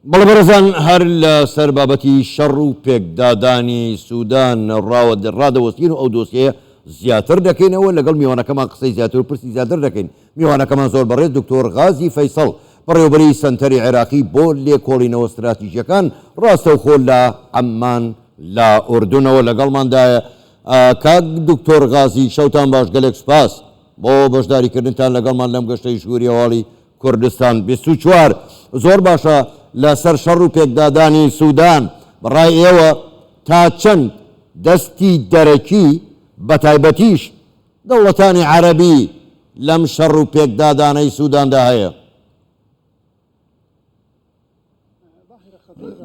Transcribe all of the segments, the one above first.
بەڵێ بەڕێزان هەر لە سەر بابەتی شەڕ و پێکدادانی سودان ڕاوە ڕادەوەستین و ئەو دۆسیەیە زیاتر دەکەینەوە لەگەڵ میوانەکەمان قسەی زیاتر و پرسی زیاتر دەکەین میوانەکەمان زۆر بەڕێز دکتۆر غازی فەیسەڵ بەڕێوبەری سەنتەری عێراقی بۆ لێکۆڵینەوە ستراتیژیەکان ڕاستەوخۆ لە عەممان لە ئوردونەوە لەگەڵماندایە کاک دکتۆر غازی شەوتان باش گەلێک سپاس بۆ بەشداریکردنتان لەگەڵمان لەم گەشتەی ژووری هەواڵی کوردستان بیست و چوار زۆر باشە لە سەر شەڕ و پێکدادانی سودان بە ڕای ئێوە تا چەند دەستی دەرەکی بە تایبەتیش دەوڵەتانی عەرەبی لەم شەڕ و پێکدادانەی سوداندا هەیە؟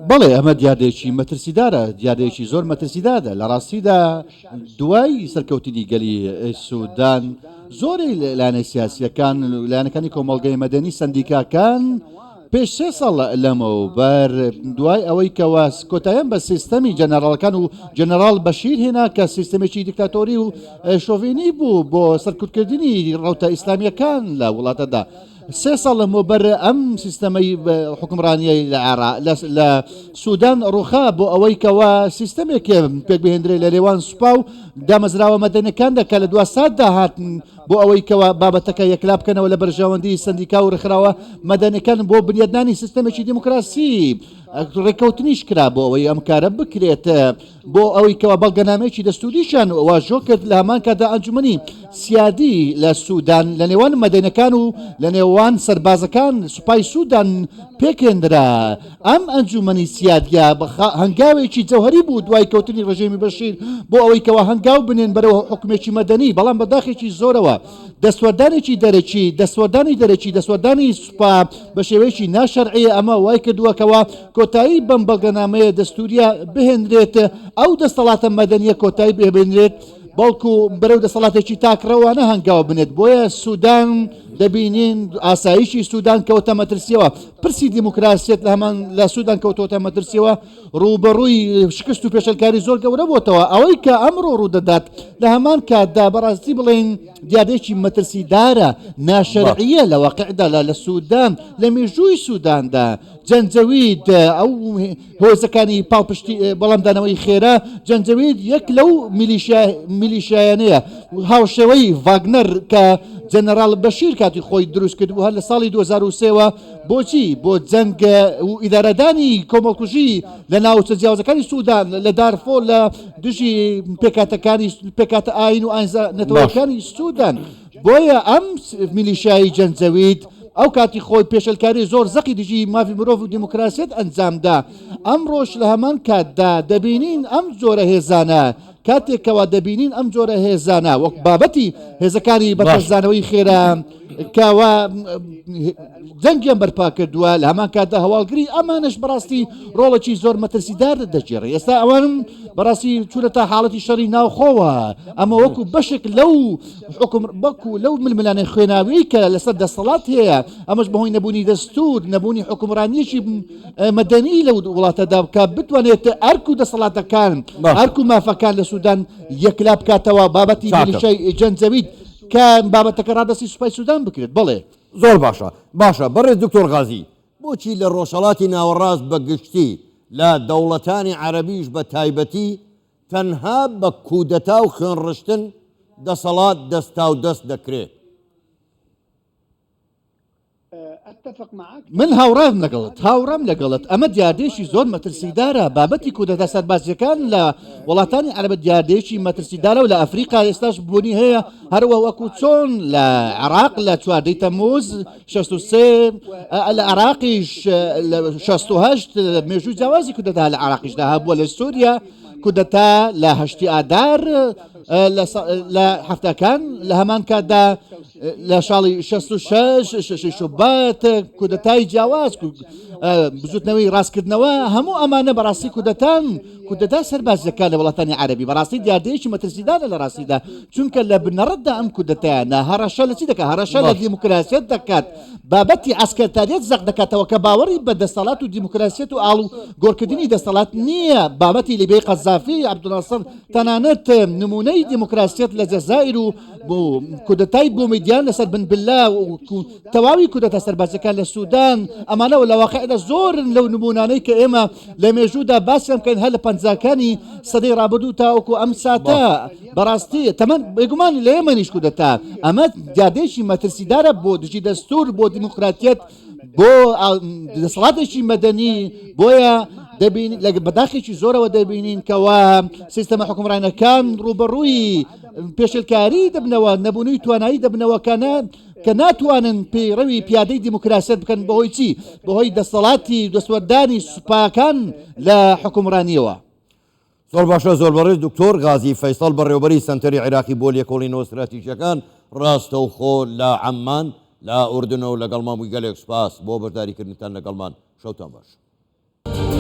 بەڵێ ئەمە دیاردەیەکی مەترسیدارە دیاردەیەکی زۆر مەترسیدادە لە ڕاستیدا دوای سەرکەوتنی گەلی سوودان زۆری لایەنە سیاسیەکان لایەنەکانی کۆمەڵگەی مەدەنی سندیکاکان پێش سێ ساڵ لەمە و بەر دوای ئەوەی کەوا کۆتایان بە سیستەمی جەنەراڵەکان و جەنەراڵ بەشیر هێنا کە سیستمێکی دیکتاتۆری و شۆڤێنی بوو بۆ سەرکوتکردنی ڕوتە ئیسلامیەکان لە وڵاتەدا سێ ساڵ لەمەوبەر ئەم سیستەمەی حکومڕانیە لە عێرا لە سوودان ڕوخا بۆ ئەوەی کەەوە سیستەمێک پێک بهێندرێ لە لێوان سوپا و دامەزراوە مەدەنەکان دەکە لە دو ساتدا هاتن بۆ ئەوەی کەەوە بابەتەکە یەکلا بکەنەوە لە بەرژەوەندی سندیکا و ڕخراوە مەدەنەکان بۆ بنیادنانی سیستەمێکی دیموکراسی ڕێککەوتنیش کرا بۆ ئەوەی ئەم کارە بکرێت. بۆ ئەوەی کەوا بەڵگەنامەیەکی دەستووریشیان واژۆ کرد لە هەمان کاتدا ئەنجومەنی سیادی لە سوودان لە نێوان مەدەنەکان و لە نێوان سەربازەکان سوپای سوودان پێکێندرا ئەم ئەنجومەنی سیادیا هەنگاوێکی جەوهری بوو دوای کەوتنی ڕژێمی بەشیر بۆ ئەوەی کەوا هەنگاو بنێن بەرەوە حکومێکی مەدەنی بەڵام بەداخێکی زۆرەوە دەستوەردانێکی دەرەکی دەستوەردانی دەرەکی دەستوەردانی سوپا بە شێوەیەکی ناشەرعەیە ئەمە وای کردووەکەوە کۆتایی بەم بەڵگەنامەیە دەستوورییە بهێنرێت، ئەو دەستەڵاتە مەدەنییە کۆتایی پێبێنرێت، بەڵکو بەرەو دەسەڵاتێکی تاکڕەوانە هەنگاو بنێت، بۆیە سودان دەبینین ئاسایشی سودان کەوتە مەترسییەوە، پرسی دیموکراسیەت لە هەمان لە سودان کەوتۆتە مەترسییەوە، ڕووبەڕووی شکست و پێشێلکاری زۆر گەورە بۆتەوە، ئەوەی کە ئەمڕۆ ڕوودەدات لە هەمان کاتدا بەڕاستی بڵێین دیاردەیەکی مەترسیدارە، ناشەرعییە لە واقیعدا لە سودان، لە مێژووی سوداندا. جەنجەوید ئەو هۆزەکانی پاڵپشتی بەڵامدانەوەی خێرا جەنجەوید یەک لەو میلیشایانەیە هاوشێوەی ڤاگنەر کە جەنەرال بەشیر کاتی خۆی دروست کرد و هەر لە ساڵی 2023ەوە بۆچی بۆ جەنگ و ئیدارەدانی کۆمەڵکوژی لە ناوچە جیاوازەکانی سوودان لە دارفۆ لە دژی پێکاتەکانی پێکاتە ئاین و ئاینزە نەتەوەکانی سوودان. بۆیە ئەم میلیشیای جەنجەوید ئەو کاتی خۆی پێشلکاری زۆر زەقی دژی مافی مرۆڤ و دیموکراسیت ئەنجامدا ئەمڕۆش لە هەمان کاتدا دەبینین ئەم جۆرە هێزانە کاتێکەوە دەبینین ئەم جۆرە هێزانە وەک بابەتی هێزەکانی بەتەزانەوەی خێرا کەوا جەنگیان بەرپا کردووە لە هەمان کاتدا هەواڵگری ئەمانش بەڕاستی ڕۆڵێکی زۆر مەترسیدار دەگێڕی ئێستا ئەوانم بەڕاستی چونەتا حاڵەتی شەڕی ناوخۆوە ئەمە وەکو بەشێک لەو حوکم بەکو لەو ململانێ خوێناویەی کە لەسەر دەسەڵات هەیە ئەمەش بەهۆی نەبوونی دەستور نەبوونی حکومڕانیەکی مەدەنی لە وڵاتەدا بکە بتوانێت ئەرک و دەسەڵاتەکان ئەرک و مافەکان لە سوودان یەکلا بکاتەوە بابەتی جەنجەویت کە بابەتەکە ڕادستی سوپای سوودان بکرێت بڵێ زۆر باشە باشە بەڕێ دکتۆر غازی بۆچی لە ڕۆژهڵاتی ناوەڕاست بە گشتی لە دەوڵەتانی عەربیش بە تایبەتی تەنها بە کودەتا و خوێنڕشتن دەسەڵات دەستاودەست دەکرێت. من هاوڕام لەگەڵت، هاوڕام لەگەڵت، ئەمە دیاردەیەکی زۆر مەترسیدارە، بابەتی کودەتا سەربازییەکان لە وڵاتانی عەرەبە دیاردەیەکی مەترسیدارە و لە ئەفریقا ئێستاش بوونی هەیە، هەر وەکو چۆن لە عێراق لە چواردە ی تەمموز، شەست و سێ لە عراقیش شەست و هەشت مێژووی جیاوازی کودەتا لە عراقیشدا هەبووە لە سووریا کودەتا لە هەشتی ئادار لە هەفتەکان لە هەمان کاتدا لە شاڵی 66 شوبات کودەتای جیاواز بزوتنەوەی ڕاستکردنەوە هەموو ئەمانە بەڕاستی کودەتان کودەتا سەرباز دەکات لە وڵاتانی عەرەبی بەڕاستی دیاردەیەکی مەترسیدارە لە ڕاستیدا چونکە لە بنەڕەتدا ئەم کودەتایانە هەڕەشە لە چی دەکات هەڕەشە لە دیموکراسیەت دەکات بابەتی عەسکەرتاریەت زەق دەکاتەوە کە باوەڕی بە دەسەڵات و دیموکراسیەت و ئاڵو گۆڕکردنی دەسەڵات نییە بابەتی لیبیای قەزافی عەبدولناسڕ تەنانەت نمونەی دیموکراسیەت لە جەزائیر و کودەتای بومیدیان لەسەر بن بلە و تەواوی کودەتا سەربازیەکان لە سودان ئەمانە و لە واقعدا زۆرن لەو نمونانەی کە ئێمە لە مێژوودا باسیان بکەین هەر لە پەنجاکانی سەدەی ڕابردوو تاوەکو ئەم ساتە بەڕاستی تەمەەن بێگومانی لە ئێمەنیش کودەتا ئەمە دیادێکی مەترسیدارە بۆ دژی دەستور بۆ دیموکراتیت بۆ دەسەڵاتێکی مەدەنی بۆیە دەبین لە بەداخێکی زۆرەوە دەبینین کەوا سیستەمە حکومڕانەکان ڕوبەڕووی پێشلکاری دەبنەوە نەبوونی توانایی دەبنەوەکانە کە ناتوانن پەیڕەوی پیادەی دیموکراسیەت بکەن بەهۆی چی؟ بەهۆی دەسەڵاتی دەستوەردانی سوپاکان لە حوکمڕانیەوە. زۆر باشە زۆر بەڕێز دکتۆر غازی فەیسەڵ بەڕێوەبەری سەنتەری عێراقی بۆ لێکۆڵینەوە ستراتیژیەکان ڕاستەوخۆ لە عەممان لە ئوردنە و لەگەڵمان بووی گەلێک سوپاس بۆ بەشداریکردنتان لەگەڵمان شەوتان باش.